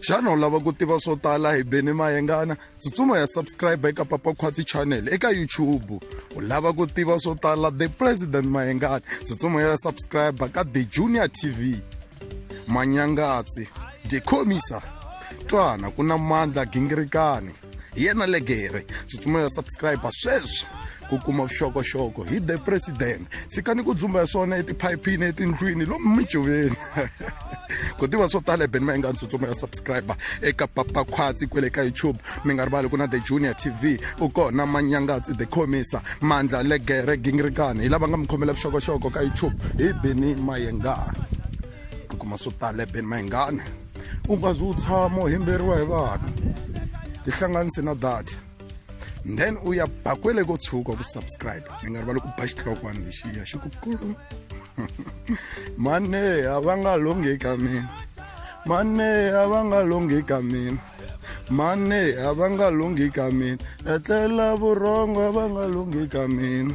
xana u lava ku tiva swo tala hi beni mayengana tsutsuma ya subscribe eka papa khwatsi channel eka youtube u lava ku tiva swo tala the president mayengana tsutsuma ya subscribe ka the junior tv manyangatsi the commisa twana ku na mandla gingirikani hi yena legere tsutsumela subscribe sweswi ku kuma vuxokoxoko hi the president tshikani ku dzumba hi swona etiphayiphini etindlwini lomu mijoveni ku tiva swo tala ebeni ma inga ntsutsumo ya subscriber eka papa khwatsi kwele ka youtube mi nga rivali ku na the junior tv u kona manyangatsi the comisa mandla legere gingirikani hi lava nga mi khomela vuxokoxoko ka youtube hi beni mayengani ku kuma swo tala ebeni mayengani u nga zi u tshama u himberiwa hi vanhu tihlanganisi na data then u ya ba kwele ko tshuka ku subscribe mi nga rivali ku ba xihlokwana lexiya xi ku kulu mane a va nga longhi ka mina mane a va nga longhi ka mina mane a va nga longhi ka mina etlela vurhongo a va nga longhi ka mina